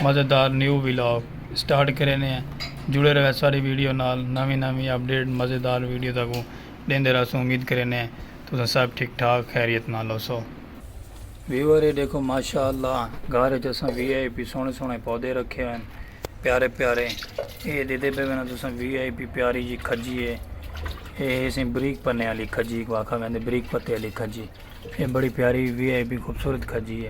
مزیدار new vlog start کریندے ہیں جڑے رہے ساری ویڈیو نال نویں نویں اپڈیٹ مزیدار ویڈیو تاکوں ڈیندے رہسوں امید کریندے ہیں تساں سب ٹھیک ٹھاک خیریت نال ہوسو۔ ویور اے ڈیکھو ماشاء اللہ گھر اچ اساں وی آئی پی سوہنے سوہنے پودے رکھے ہوئن پیارے پیارے اے ڈیدے پے وینا تساں وی آئی پی پیاری جی کھجی اے اے ہیسیں بریک پنے آلی کھجی کو آکھا ویندے بریک پتے آلی کھجی۔ اے بڑی پیاری وی آئی پی خوبصورت کھجی ہے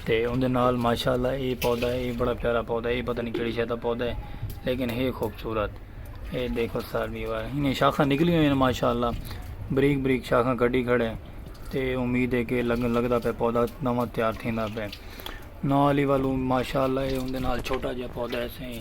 تے اوندے نال ماشاءاللہ اے پودا ہے اے بڑا پیارا پودا ہے اے پتہ نہیں کیڑی شے دا پودا ہے لیکن ہے خوبصورت اے دیکھو سار بھی وار انہیں شاخاں نکلی ہوئی ہیں ماشاءاللہ بریک بریک شاخاں کڈی کھڑے تے امید ہے کہ لگن لگدا پہ پودا نواں تیار تھیندا پہ نال ہی والو ماشاءاللہ اے اوندے نال چھوٹا جہا پودا ہے سیں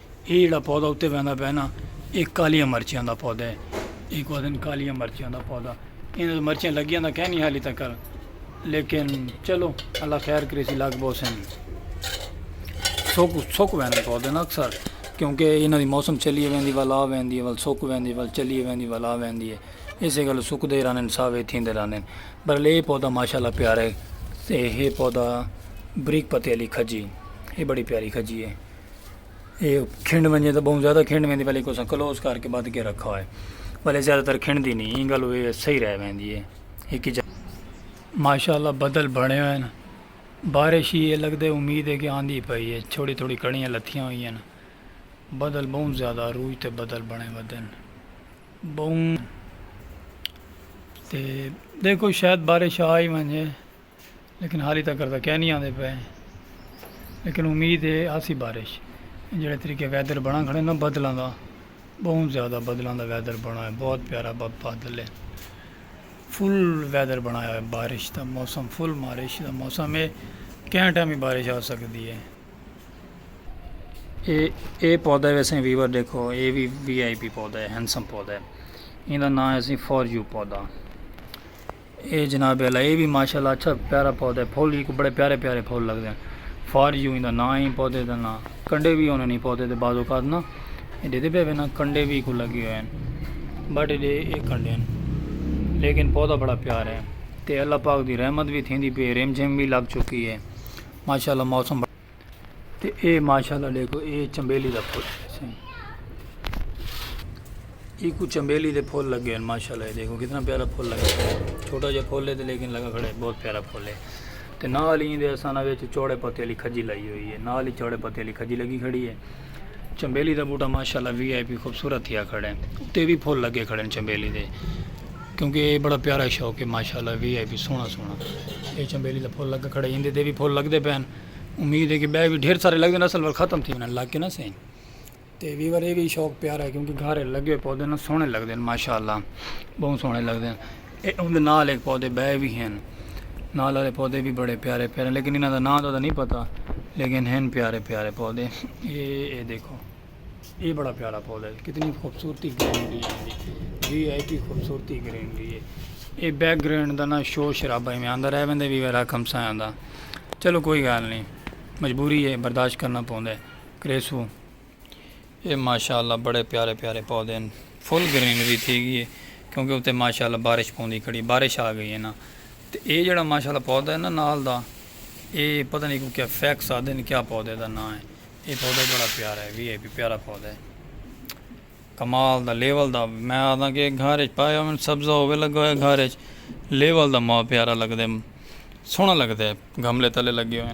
اے جیڑھا پودا اتے ویندا پئے نا اے کالیاں مرچیاں دا پودا ہے۔ اینکوں آدھن کالیاں مرچیاں دا پودا۔ ایندا تے مرچیاں لگیاں تاں کینی حالی تکر لیکن چلو اللہ خیر کریسی لگ بوسن۔ سک سک ویندے پودے نا اکثر کیونکہ ایناں دی موسم چلیے ویندی ول آ ویندی ہے ول سک ویندی ول چلیے ویندی ول آ ویندی ہے۔ اس گل سک دے رہندن ساوے تھیندے رہندن۔ پر لے پودا ماشاءاللہ پیارے تے ہے پودا بریک پتے علی کھجی۔ اے بڑی پیاری کھجی ہے۔ اے کھنڈ ونجے تاں بہوں زیادہ کھنڈ ویندی بلکہ اساں کلوز کر کے بدھ کے رکھا ہوئے بلکہ زیادہ تر کھنڈ دی نہیں ایں گل ہوئے صحیح رہ ویندی ہے ایک جا ماشاءاللہ بدل بھنے ہوئے ہیں بارش ہی ہے لگ دے امید ہے کہ آندھی پائی ہے چھوڑی تھوڑی کڑیاں لتھیاں ہوئی ہیں بدل بہوں زیادہ روج تے بدل بھنے ہوئے دن بہوں تے دیکھو شاید بارش آئی ونجے لیکن حالی تکر تاں کینی آندے پئے ہیں لیکن امید ہے آسی بارش جڑے طریقے ویدر بنا کھڑے نا بدلاں دا بہت زیادہ بدلاں دا ویدر بنا ہے بہت پیارا بادل ہے فل ویدر بنایا ہے بارش دا موسم فل بارش دا موسم ہے کہیں ٹائم بھی بارش آ سکتی ہے اے اے پودا ہے ویسے ویور دیکھو اے وی وی آئی پی پودا ہے ہینڈسم پودا ہے ان دا نام ہے سی فور یو پودا اے جناب اعلی اے وی ماشاءاللہ اچھا پیارا پودا ہے پھل ہیک بڑے پیارے پیارے پھل لگدے ہیں فار یو ایندا ناں ہے پودے دا ناں کنڈے وی ہوندے نیں پودے دے بعض اوقات نا اے ڈیدھے پے وے نا کنڈے وی کو لگے ہوئے ہیں بٹ اے اے کنڈے ہیں لیکن پودا بڑا پیارا ہے تے اللہ پاک دی رحمت وی تھیندی پی ریم جھیم وی لگ چکی ہے ماشاءاللہ موسم بڑا تے اے ماشاءاللہ ڈیکھو اے چنبیلی دا پھول ہے ای کو چنبیلی دے پھول لگے ہیں ماشاءاللہ دیکھو کتنا پیارا پھول لگا ہے چھوٹا جا پھول ہے تے لیکن لگا کھڑا ہے بہت پیارا پھول ہے تے نال ہی دے اساں وچ چوڑے پتے والی کھجی لائی ہوئی ہے نال ہی چوڑے پتے والی کھجی لگی کھڑی ہے چنبیلی دا بوٹا ماشاءاللہ وی آئی پی خوبصورت تھیا کھڑے اتے وی پھول لگے کھڑے چنبیلی دے کیونکہ اے بڑا پیارا شوق ہے ماشاءاللہ وی آئی پی سونا سونا اے چنبیلی دا پھول لگا کھڑے ایندے دے وی پھول لگدے پین امید ہے کہ بے وی ڈھیر سارے لگدے اصل وقت ختم تھی ونے لگ کے نہ سین تے وی ورے وی شوق پیارا ہے کیونکہ گھارے لگے پودے نہ سونے لگدے ماشاءاللہ بہت سونے لگدے اوندے نال ہک پودے بئے وی ہن۔ نال آلے پودے وی بڑے پیارے پیارے ہن لیکن انہاں دا ناں تاں نئیں پتہ لیکن ہن پیارے پیارے پودے۔ اے اے دیکھو۔ اے بڑا پیارا پودا ہے۔ کتنی خوبصورتی گرینری ہے ایندی۔ وی آئی پی خوبصورتی گرینری ہے۔ اے بیک گراؤنڈ دا نہ شور شرابہ ایویں آندا رہ ویندے وی رہ کم ساں آندا۔ چلو کوئی گال نئیں۔ مجبوری ہے برداشت کرنا پوندا ہے۔ کریسوں۔ اے ماشاء اللہ بڑے پیارے پیارے پودے ہن فل گرینری تھی گئی ہے کیونکہ اتے ماشاء اللہ بارش پوندی کھڑی بارش آ گئی ہے نا تے اے جڑا ماشاء اللہ پودا ہے نا نال دا اے پتہ نہیں کو کیا فیکس آدھے کیا پودے دا نا ہے اے پودا بڑا پیارا ہے وی آئی پی پیارا پودا ہے کمال دا لیول دا میں آدھاں کہ گھر اچ پایا ہوئے سبزہ ہوئے لگا ہوئے گھر اچ لیول دا ماں پیارا لگ دے سونا لگ دے گھملے تلے لگے ہوئے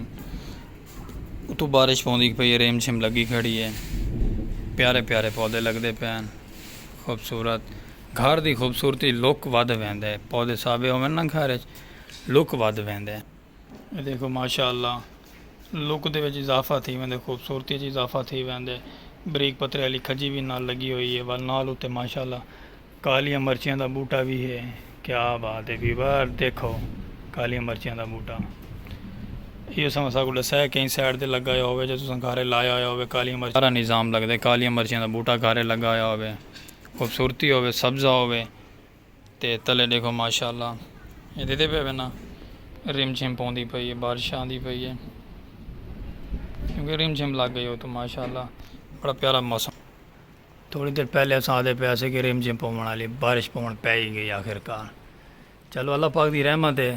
اتو بارش پوندی پئی ریم جھم لگی کھڑی ہے پیارے پیارے پودے لگ دے پین خوبصورت گھر دی خوبصورتی لک ودھ ویندے پودے سابے ہوئے نا گھر اچ لک ودھ ویندے اے ݙیکھو ماشاءاللہ لک دے وچ اضافہ تھی ویندے خوبصورتی اچ اضافہ تھی ویندے بریک پترے آلی کھجی وی نال لگی ہوئی ہے ول نال اتے ماشاءاللہ کالیاں مرچیاں دا بوٹا وی ہے کیا بات ہے ویور دیکھو کالیاں مرچیاں دا بوٹا ایو سما ساکو ڈسا ہے کہیں سائیڈ تے لگا ہویا ہوے جے تساں گھارے لایا ہویا ہوے کالیاں مرچیاں سارا نظام لگدے کالیاں مرچیاں دا بوٹا گھارے لگا ہویا ہوے خوبصورتی ہوے سبزہ ہوے تے تلے ڈیکھو ماشاءاللہ اے دیدے پے وے نا رم جھم پوندی پئی ہے بارش آندی پئی ہے کیونکہ رم جھم لگ گئی ہو تو ماشاءاللہ بڑا پیارا موسم تھوڑی دیر پہلے اساں آدھے پے اسے کہ رم جھم پون والی بارش پون پے ہی گئی آخر کار چلو اللہ پاک دی رحمت ہے